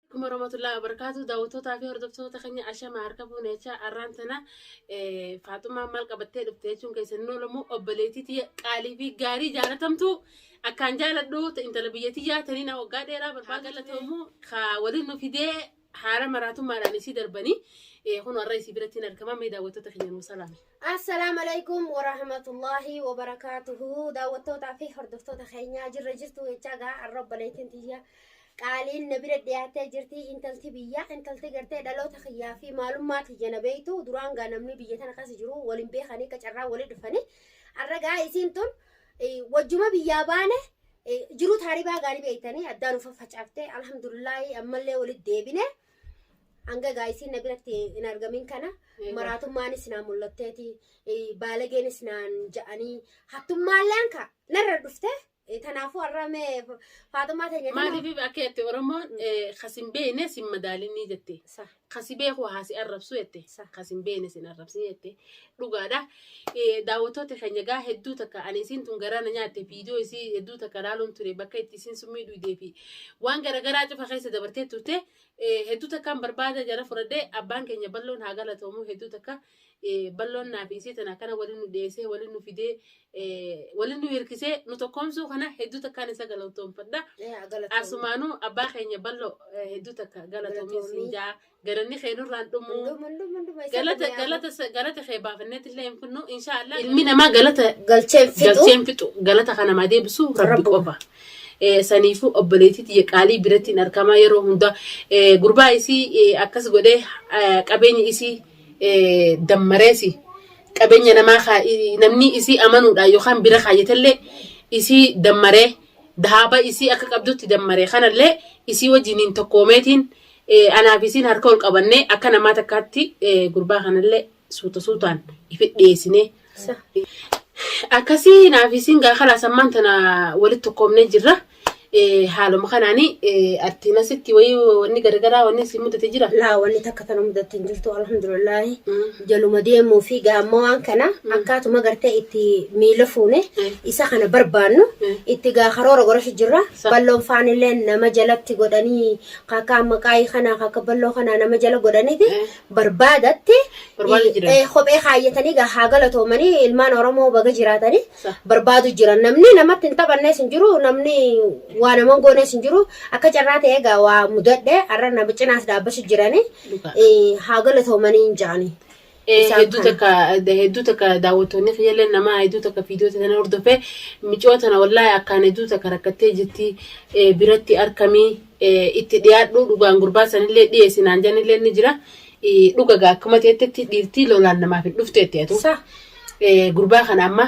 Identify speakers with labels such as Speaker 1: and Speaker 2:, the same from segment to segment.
Speaker 1: Alaikum warahmatullahi wabarakatuh. Daawwattootaa fi hordoftoota keenya ashama harka fuune jechaa arraan tana eh, Faaxumaan maal qabattee dhufte jechuun keessan hin oolamu obboleettii tiyya qaalii fi gaarii jaalatamtu akkaan jaaladhu ta intala biyya tiyyaa taniin waggaa dheeraa barbaadu galatoomuu ka waliin nu fidee haala maraatummaadhaan isii darbanii eh, kun warra isii biratti hin argaman mee daawwattoota keenya nuu salaame. Assalaamu alaikum
Speaker 2: warahmatullaahi wabarakaatuhu daawwattootaa fi hordoftoota keenyaa jirra jirtu jechaa gaa arra obboleettiin tiyya Qaaliin na bira dhiyaattee jirti intalti biyyaa intalti gartee dhaloota kiyyaa fi maalummaa tiyya na beeytu duraan gaa namni biyya tana keessa jiru waliin beekanii akka carraa walii dhufanii har'a gaa isiin tun eh, wajjuma biyyaa baane eh, jiruu taaribaa gaanii beeytanii addaan ufa facaaftee alhamdulillaahi ammallee walitti deebine hanga gaa isiin na biratti hin argamin kana Eegaa. maraatummaanis naa mul'atteeti eh, baalageenis naan ja'anii hattummaalleen ka narra dhufte Eh, Tanaafuu har'a mee Fa- Faaxumaa teenya tana- Maaliif akka jette
Speaker 1: Oromoon eh, kasin beekne sin madaalinni jette. Sa, Kasi beeku haa si arrabsu jette. Sa. Kasin beekne sin arrabsin jette. Dhugaadha. Eh, Daawwattoota keenya gaa hedduu takka ani isiin tun garaa na nyaatte viidiyoo isii hedduu takka ilaaluun ture bakka itti isiin summii dhuydee fi waan garaagaraa cufa keessa dabartee turte eh, hedduu takkaan barbaada jala fudhadhee abbaan keenya balloon haa galatoomu hedduu takka balloon naafi isii tana akkana wali nu dheesee wali nu fidee wali nu hirkisee nu tokkoomsuu kana hedduu takkaan isa galatoomfadha. Asumaanuu abbaa keenya ballo hedduu takka galatoomiin siin jaa galanni kee nurraan dhumuu galata kee baafanneetti illee hin finnu inshaallah ilmi namaa galata galcheen fixu galata kana maa deebisu rabbi qofa. saniifu obboleetii tiyya qaalii birattiin argamaa yeroo hunda gurbaa isii akkas godhee qabeenya isii dammareesi qabeenya namaa kaa- i- namni isii amanuudhaan yookaan bira kaayyatellee isii dammaree dahaaba isii akka qabdutti dammaree kanallee isii wajjiniin tokkoomeetiin eh, anaaf isiin harka ol qabannee akka namaa takkaatti eh, gurbaa kanallee suuta suutaan ifi dhiyeessinee Akkasii naaf isin gaa kalaas ammaan tana walitti tokkoomnee jirra. Eh, Haaluma kanaan eh, atti nasitti wayii wanni garagaraa wanni si mudate jira. Laa wanni takka tana
Speaker 2: mudatti hin jirtu alhamdulillaahi. Mm. Jaluma deemuu fi gaamma waan kana akkaatuma gartee itti miila fuune Mm. isa kana barbaannu Mm. itti gaa karoora godhachu jirra. Sa- Balloon faanillee nama jalatti godhanii kakkaa maqaayii kana kakka balloo kana nama jala godhaniiti. Mm. barbaadatte Barbaadu eh, jiran. eh, kophee kaayyatanii gaa haa galatoomanii ilmaan oromoo baga jiraatanii Sa. barbaadu jiran namni namatti hin taphannees hin jiru namni waa nama hin goonees hin jiru akka carraa ta'e egaa waa mudadhe har'a nama cinaas dhaabbachu jiranii Dhugaa. eh, haa galatoomanii hin jaanii. Eh, Isaan hedduu kana. takka da- hedduu takka daawwattoonni fayyallee namaa hedduu takka viidiyoo tana hordofee micoo tana wallaahi akkaan hedduu takka rakkattee jirti eh, biratti arkamii itti dhiyaadhuu dhugaan gurbaa sanillee dhiyeessi naan janillee ni jira dhuga gaa akkuma teettetti dhiirtii lolaan namaaf hin dhufteetti atu Sa. gurbaa kana amma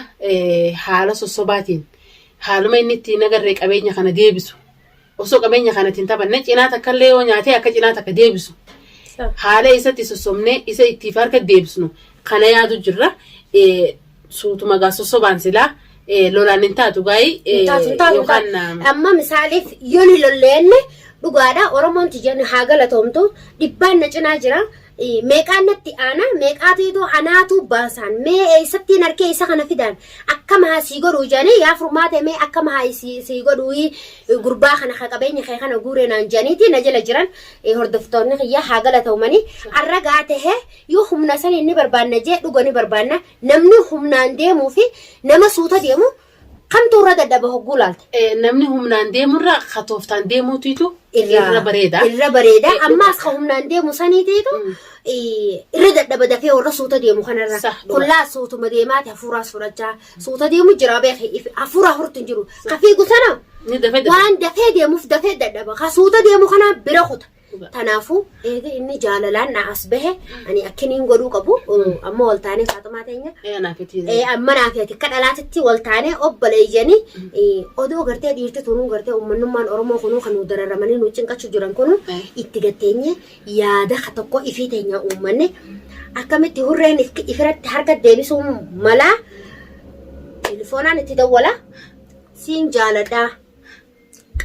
Speaker 2: haala sossobaatiin haaluma inni itti nagarree qabeenya kana deebisu osoo qabeenya kana ittiin taphanne cinaa takka illee yoo nyaatee akka cinaa takka deebisu Sa. haala isatti sossobnee isa ittiif harka deebisnu kana yaadu jirra Suutuma gaa sossobaan silaa eh, lolaan hin taatu gaa'ii eh, Hin taatu, hin taatu, hin taatu. yookaan eh, Amma misaaliif yoo ni lolleenne dhugaadha Oromoon tiyyan haa galatoomtu dhibbaan na cinaa jira. Eh, Meeqaan natti aanaa meeqaatu itoo anaatu baasaan mee eessattiin harkee isa kana fidaan akkam haa sii godhuu jedhanii yaa furmaate mee akkam haa sii sii godhuu eh, gurbaa kana ka qabeenya kee kana guuree naan jedhaniiti na jala jiran eh, hordoftoonni kiyya haa galatoomanii har'a gaa tahee Yoo humna saniin ni barbaanna jee dhuga ni barbaanna namni humnaan deemuu fi nama suuta deemu kamtu irra dadhaba hogguu laalta. Eh, Namni humnaan
Speaker 1: deemurra ka tooftaan deemuutiitu irra bareeda. Irra bareeda.
Speaker 2: Eh, Ammaas dhuga. ka humnaan deemu saniitiitu Mm. eh, irra dadhaba dafee warra suuta deemu kanarra. Sah, dhuga. Kullaa suutuma deemaati hafuuraas fudhachaa. Suuta deemu jira beeki. If- Hafuura hurtu hin jiru. Ka fiigu sana Ni dafee dafee. waan dafee deemuuf dafee dadhaba. Ka suuta deemu kana bira kuta. Tanaafuu eega inni jaalalaan na as bahe ani akkiniin godhuu qabu amma wal taanee faaxumaa teenya
Speaker 1: amma naa fi ati akka
Speaker 2: dhalaatitti wal taanee obboleeyyanii odoo gartee dhiirti tunuu gartee ummannummaan Oromoo kunuu kan nu dararamanii nu cinqachuu jiran kunuu itti gatteenye yaada ka tokko ifii teenya uummanne akkamitti hurreen if- ifiratti harka deebisuu malaa telefoonaan itti dawwala siin jaaladhaa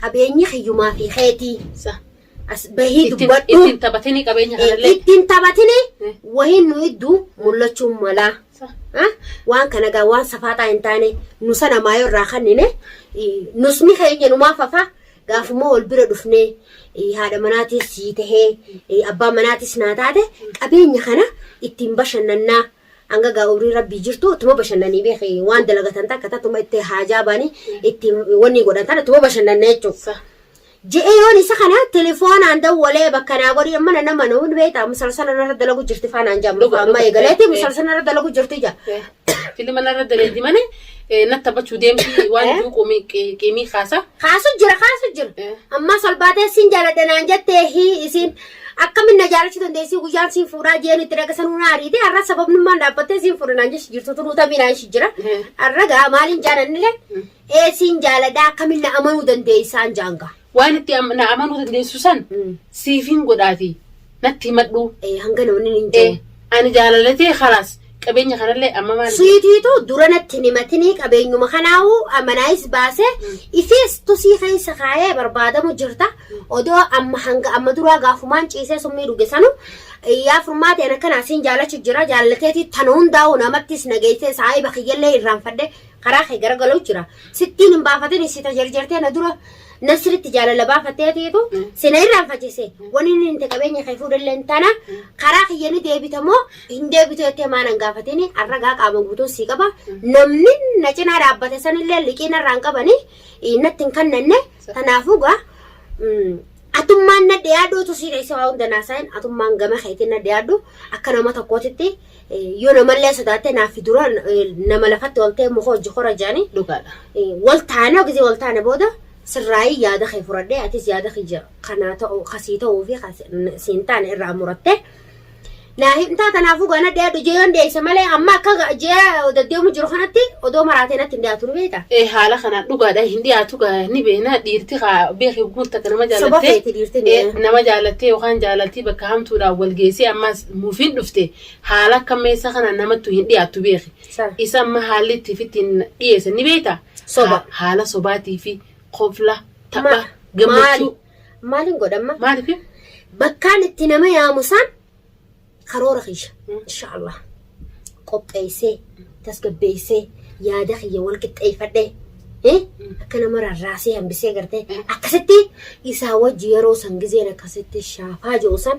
Speaker 2: Qabeenyi kiyyumaa fi keetii. Sa. As
Speaker 1: bahii Ittiin
Speaker 2: dubbadhu. ittiin taphatini qabeenya
Speaker 1: Eh, kanallee. Ittiin taphatini Eh.
Speaker 2: wahiin nu idduu mul'achuu malaa. Sa. Ha? Waan kana gaa waan safaataa hin taane nu sana maayoo irraa kannine eh, nusni keenya numaa fafa gaafuma
Speaker 3: wal bira dhufnee eh, haadha manaatis sii tahee eh, abbaa manaatis naa taate qabeenya kana ittiin bashannannaa Hanga gaa umrii rabbii jirtu tuma bashannanii beeki waan dalagatan takka tatuma itti haajaa baanii itti wanni godhan tana tuma bashannanna jechuu. Sa. Je'ee yoon isa kana telefoonaan dawwalee bakka naa godhii amma na nama nuun beektaa musalsala narra dalagu jirti faanaan jaa Dhuga, amma dhuga. eegaleeti Eh, eh. musalsala narra dalagu jirti jaa. Eh, Filima narra
Speaker 2: daleedi malee eh, natti taphachuu deemti waan Eh? duuquu mi- qi- qiimii kaasa. Kaasu jira kaasu jira.
Speaker 3: Eh. Ammaa salbaatee siin jaaladha naan jettee hii isiin Akkamiin na jaalachuu dandeessii guyyaan siin fuudhaa jeen itti dhaga sanuu na ariite har'a sababnummaan dhaabbattee siin fuudha naan jechi jirtu turuu tamii naan shi jira. Har'a gaa maaliin jaalannilee ee siin jaaladhaa akkamiin na amanuu dandeessaan jaangaa. Waan itti am- na
Speaker 2: amanuu dandeessu san siifin godhaati natti himadhu. Ee hanga namni hin Eh, jiru.
Speaker 3: ani jaalalatee
Speaker 2: kalaas Qabeenya kanallee amma maal Siitiitu dura natti
Speaker 3: hin himatinii qabeenyuma kanaahu manaayis baase isiis tusii keessa kaayee barbaadamu jirta odoo amma hanga amma duraa gaafumaan ciisee summii dhuge sanu yaa furmaateen akkanaa siin jaalachu jira jaallateetii tana hundaa'u namattis nageessee saahiba kiyyallee irraanfadhe karaa kee garagaloo jira sittiin hin baafatin sita jarjartee na dura na sirritti jaalala baafattee ateetu sina irraan faccise wani inni inte qabeenya kee fuudhallee hin taana karaa kiyya ni deebita moo hin deebitu jettee maan hin gaafatini arragaa qaama guutuu sii qaba namni na cinaa dhaabbate sanillee liqii narraan qabani natti hin kannanne kanaafuu gaa mm, atummaan na dhiyaadhuutu sii dheesse waa hunda naasaa'in atummaan gama keetiin na dhiyaadhu akka nama tokkootitti Yoo namallee sodaattee naaffi dura nama lafatti oltee muka hojji kora jedhani. Dhugaadha. Wal taane hogisii wal taane booda sirraayii yaada kee furadhee atis yaada kiyya kanaa ta'u kasii ta'uu fi siin taane irraa murattee naa himtaa kanaafuu gaana dhiyaadhu jee yoon dhiyeesse malee amma akka jee deddeemu jiru kanatti odoo maraatee natti hin dhiyaatu ni beekta. Ee haala kanaan dhugaadha
Speaker 2: hin dhiyaatu gaa ni beena dhiirti kaa beekii guutta akka nama Soba jaalattee feeti dhiirti ni. ee,
Speaker 3: nama jaalattee yookaan
Speaker 2: jaalaltii bakka hamtuudhaan wal geessee ammas mufiin dhufte haala akka meessaa kana namattu hin dhiyaattu beeki. Sir. Isa amma haalli itti fitti dhiyeessan ni beekta. Soba. Ha- Haala sobaatii fi kofla, tapha, Ma- gammachuu. maali- Maaliin godhamma?
Speaker 3: Maaliif?
Speaker 2: Bakkaan itti
Speaker 3: nama yaamu san karoora kiyya. Mm. Inshaallah. Qopheessee, tasgabbeessee, yaada kiyya wal qixxeeffadhee. eh, Akka nama rarraasee hambisee gartee Mm. akkasitti isaa wajji yeroo san gizeen akkasitti shaafaa jiru san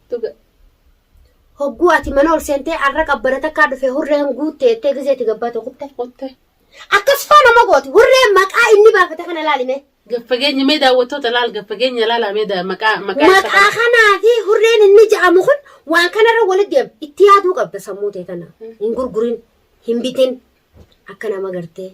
Speaker 3: Dhuga. Hogguu ati mana ol seentee arra qabbana takkaa dhufe hurreen guutte jettee gizee itti gabbaate kutte. Kutte. Akkas faa nama gooti hurree maqaa inni baafate kana laalime. Gaffageenya mee
Speaker 2: daawwattoota laal gaffageenya laalaa mee daa- maqaa maqaa isa Maqaa kana. kanaa
Speaker 3: fi hurreen inni ja'amu kun waan kanarra walitti deema. Itti yaaduu qabda sammuu tee tana. Hin gurgurin, hin bitin, Akka nama gartee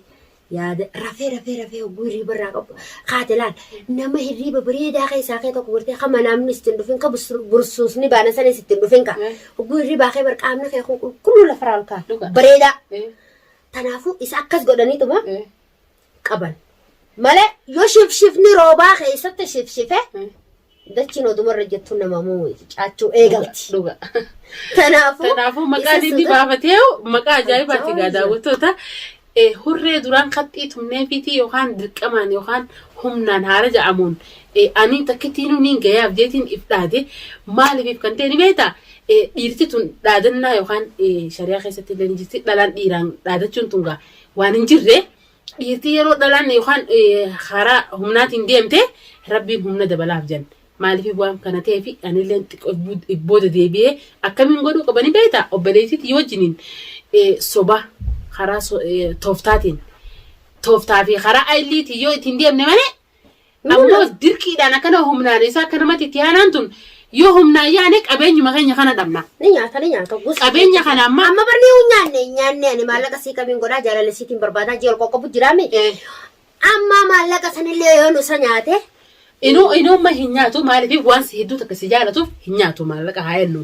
Speaker 3: yaada rafee rafee rafee hogguu hirriiba irraa qabu kaate laal nama hirriiba bareedaa keessaa kee tokko gartee ka manaamni ittiin dhufin ka busur- bursuusni baana sanis ittiin dhufin ka Eh. hogguu hirriibaa kee barqaamni kee kun qulqulluu lafarraa ol ka'a Dhugaa. bareedaa Eh. kanaafuu isa akkas godhaniituma Eh. qaban. Malee yoo shifshifni roobaa keessatti shifshife dachiin oduma irra jettu nama mucaachuu eegalti. Dhuga. Kanaafuu
Speaker 2: Kanaafuu maqaan isa inni sodaa- baafatee maqaa ajaa'ibaati Ajaa'iba. egaa daawwattoota. Eh, Hurree duraan qaxxii tumnee fiitii yookaan dirqamaan yookaan humnaan haala ja'amuun eh, ani takkittiin nuun gayaaf jeetiin if dhaade maaliif kan ta'e ni beektaa? Eh, Dhiirti tun dhaadannaa yookaan eh, shari'aa keessatti illee ni jirti dhalaan dhiiraan dhaadachuun tun gaa waan hin jirre dhiirtii yeroo dhalaan yookaan karaa humnaatiin deemte rabbiin humna dabalaaf jan maaliif waan kana ta'eef anillee xiqqoo booda deebi'ee akkamiin godhuu qabanii beekta obboleettiitti yoo wajjiniin soba karaa tooftaatiin tooftaa fi karaa ayiliitiin yoo ittiin deemne malee Ammoo dirqiidhaan akkana humnaan isaa akka namatti itti aanaan tun yoo humnaan yaane qabeenyuma keenya kana dhabna. Ni nyaata ni nyaata. Gosa
Speaker 3: Qabeenya kana amma
Speaker 2: amma barnee hin nyaanne hin nyaanne
Speaker 3: ani maallaqa sii qabiin godhaa jaalala siitiin barbaadaa ji'a ol qoqqobu jiraame. eh, Amma maallaqa sanillee yoo nusa nyaate inuu inuumma
Speaker 2: hin nyaatu maaliif waan si hedduu takka si jaalatuuf hin nyaatu maallaqa haa jennu.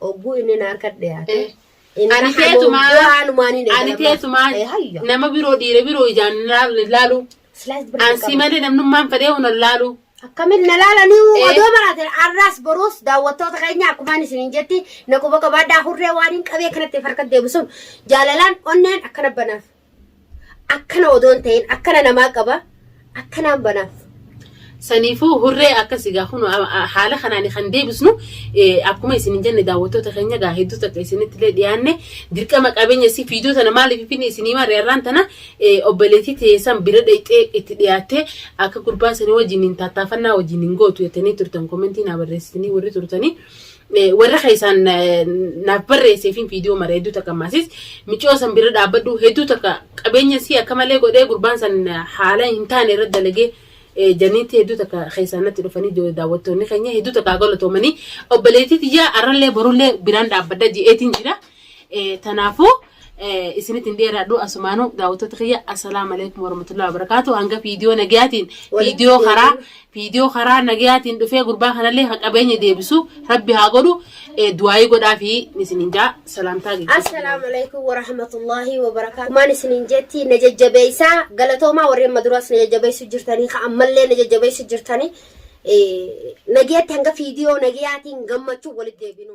Speaker 3: Ogguu inni na harka dhiyaate. Ani Inni teetumaa- hamoo waanumaan
Speaker 2: hin Ani eegalamne. teetumaa Eh, hayya. nama biroo dhiira biroo ijaan hin laal- hin laalu. Slice birrii Ansi qaba. malee namnummaan fedhee hin laalu. Akkamiin na laalanii
Speaker 3: Eh. odoo baraatan arraas boruus daawwattoota keenya akkumaan isiniin jetti na quba qabaadhaa hurree waan hin qabee kanatti harka deebisuun jaalalaan onneen akkana banaaf. akkana odoon ta'in akkana namaa qaba akkanaan banaaf. Saniifuu
Speaker 2: hurree akkasi gaa kun haala kanaan kan deebisnu akkuma isin jenne daawwattoota keenya gaa hedduu takka isinitti illee dhiyaanne dirqama qabeenya si fiidoo tana maaliif finne isinii maarree har'aan tana obboleettii teessan bira dhayxee itti dhiyaattee akka gurbaa sanii wajjin hin tattaafannaa wajjin hin gootu jettanii turtan komentii naa barreessitanii warri turtanii. Warra keessaan naaf barreesseefin viidiyoo mara hedduu takka maasis micoo san bira dhaabbadhu hedduu takka qabeenya sii akka malee godhee gurbaan san haala hin taane irra dalagee janiitti hedduu takka keessaan natti dhufanii daawwattoonni keenya hedduu takka galatoomanii obboleettii tiyyaa arrallee borullee biraan dhaabbadha je'eetiin jira. Tanaafuu isinitti hin dheeraadhu asumaanu daawwattoota kiyya assalaamu alaikum warahmatullahi wabarakaatu hanga viidiyoo nagayaatiin viidiyoo karaa viidiyoo karaa nagayaatiin dhufee gurbaa kanallee ka qabeenya deebisu rabbi haa godhu du'aayii godhaa fi isinin jaa salaamtaa geggeessa Assalaamu alaikum wa
Speaker 3: rahmatullahi wa barakaatu. Maan isiniin jetti na jajjabeessaa galatoomaa warreen maduras na jajjabeessu jirtanii ka ammallee na jajjabeessu jirtanii nageetti hanga viidiyoo nagayaatiin gammachuu walitti deebinu.